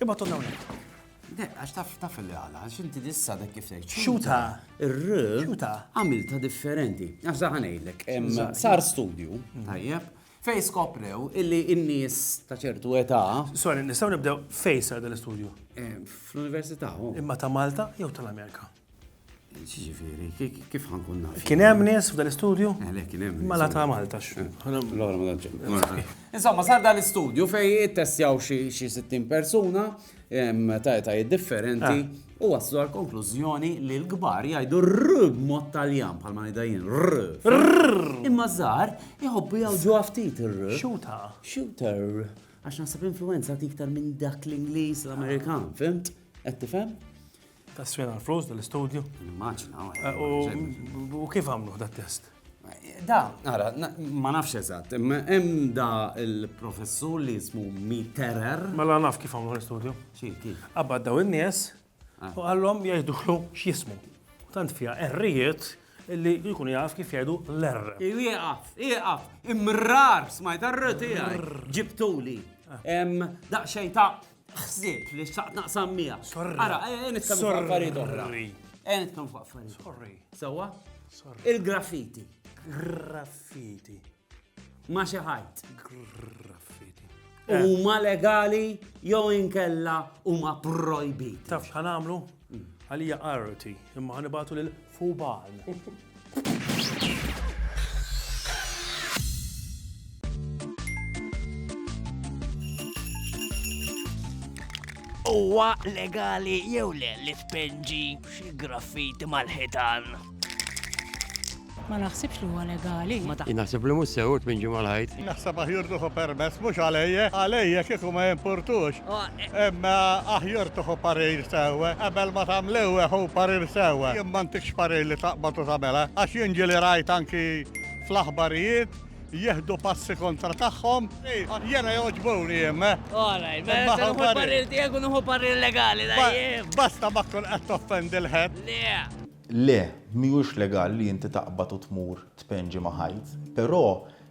Imma tonna unek. Dek, għax taf taf li għala, għax inti dissa dek kif tgħid. Xuta. Ir-r. Xuta. Għamilta differenti. Għax zaħanejlek. Sar studju. Tajjeb. Fej skoprew illi n-nies ta' ċertu età. Sorry, nistgħu nibdew fej sar dal-istudju? Eh, fl-università. Oh. Imma ta' Malta jew tal-Amerika? kif ħankun naf? Kien hemm nies f'dan l-istudju? Eh, kien hemm. Mala ta' Malta x'fu. Eh. Insomma, sar dan l-istudju fej ittestjaw xi 60 persuna ta' etajiet differenti eh. u waslu għal konklużjoni li l-kbar jgħidu r b'mod taljan bħal ma ngħidajin r. Imma żgħar iħobbu jgħawġu ftit r. Xuta. Shooter. Għax naħseb influenza tiktar minn dak l-Ingliż l-Amerikan, fimt? Qed tifhem? Taswina l-flus dal-istudju? Nimmaġina. U kif għamlu da test? Da, għara, ma nafx eżatt, imma hemm da il-professur li jismu Miterer. Mela naf kif għamlu l-istudju. Xi, kif? Qabad daw in-nies ah. u għallhom jgħidulu x'jismu. Tant fija errijiet li jkun jaf kif jgħidu l-err. Iqaf, iqaf, imrar, smajt arr tiegħi. Ġibtuli. Ah. Daqxej ta' Ħsibt li xtaqt naqsam miegħek. Sorry. Ara, ejja nitkellmu fuq affarijiet oħra. Sorry. Ejja nitkellmu fuq affarijiet. Sorry. Sewwa? Sorry. Il-graffiti. Graffiti. Ma xi ħajt. Graffiti. Huma legali jew inkella huma projbiti. Taf x'ħanamlu? Għalija arti, imma ħanibatu lil Fubal. Huwa legali jew le li tpenġi xi graffiti mal-ħitan? Ma naħsibx li huwa legali. Naħseb li mhux sewt minn ġimgħa l-ħajt. Naħseb aħjur tuħu permess mhux għalejja, għalejja kieku ma jimpurtux. Imma aħjur tuħu parir sewwa qabel ma tagħmlew hu parir sewwa. Jien m'għandix parir li taqbad u tagħmilha għax jien ġieli rajt anki fl-aħbarijiet jieħdu passi kontra tagħhom. Jiena jogħġbuni jien. Għalaj, ma jogħġbuni parir tiegħek u nuħu parir legali. Basta ma tkun qed toffendi l-ħed. Le. Le, mhijiex legali li inti taqbad u tmur tpenġi ma' ħajt, però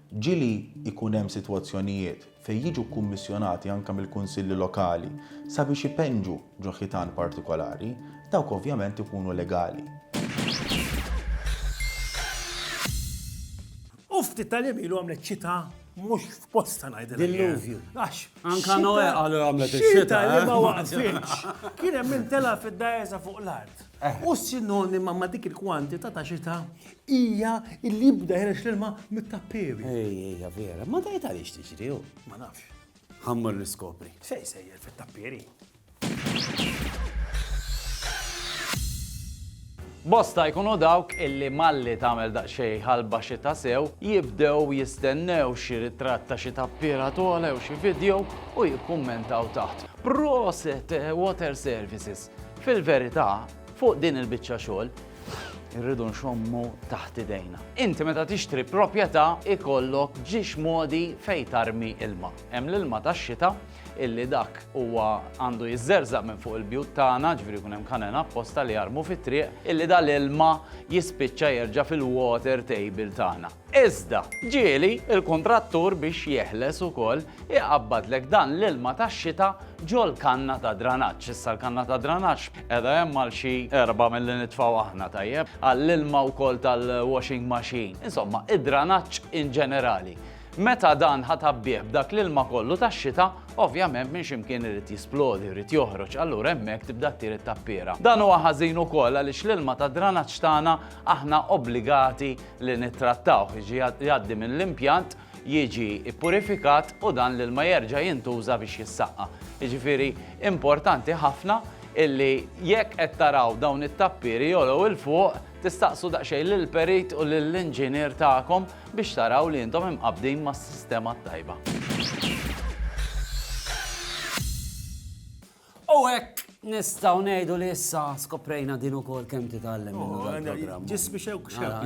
ġieli jkun hemm sitwazzjonijiet fejn jiġu kkummissjonati anke mill-kunsilli lokali sabiex ipenġu ġo ħitan partikolari, dawk ovvjament ikunu legali. U ftit tal-jiem ilu għamlet xita mhux f'posta ngħidilek. Dilluvju. Għax. Anka Noe qalu għamlet ix-xita. li eh? ma waqfitx. Kien hemm min tela' fid-dajesa fuq l-art. Eh. U sinonima ma' dik il-kwantità ta' xita hija li jibda ħirex l-ilma mit-tappewi. Ejja, vera. Ma dajt għaliex tiġri. Ma nafx. Ħammur niskopri. Sej sejjer fit-tappieri. Bosta jkunu dawk illi malli tagħmel daqsxejn ħalba xita sew, jibdew jistennew xi ritratt ta' xi tappiera togħla jew xi video u jikkummentaw taħt. Proset Water Services! Fil-verità, fuq din il-biċċa xogħol, irridu nxommu taħt idejna. Inti meta tixtri proprjetà ikollok ġiex modi fejn tarmi ilma. Hemm l-ilma tax-xita illi dak huwa għandu jiżżerżaq minn fuq il-bjut tagħna, ġifieri jkun hemm kanena apposta li jarmu fit-triq, illi dal-ilma jispiċċa jerġa' fil-water table tagħna. Iżda, ġieli l-kuntrattur biex jeħles ukoll iqabbadlek dan l-ilma tax-xita ġol-kanna ta' dranaġġ. Issa l-kanna ta' dranaġġ qiegħda hemm għal xi erbgħa milli nitfgħu aħna, tajjeb, għall-ilma wkoll tal-washing machine. Insomma, id-dranaġġ in ġenerali. Meta dan ħa tgħabbih b'dak l-ilma kollu tax-xita, ovvjament minn xi mkien irid jisplodi, irid joħroġ, allura hemmhekk tibda ttir it-tappiera. Dan huwa ħażin ukoll għaliex l-ilma tad-dranaġġ tagħna aħna obbligati li nittrattawh, jiġi jgħaddi minn l-impjant, jiġi ppurifikat u dan l-ilma jerġa' jintuża biex jissaqqa. Jiġifieri importanti ħafna illi jekk qed taraw dawn it-tappieri jogħlew 'il fuq, Tistaqsu daqsxejn lill-perit u lill-inġinier tagħkom biex taraw li intom imqabbdin mas-sistema t-tajba. U hekk Nistaw nejdu li issa skoprejna din ukoll kemm titgħallem. Ġismi xewk xewk.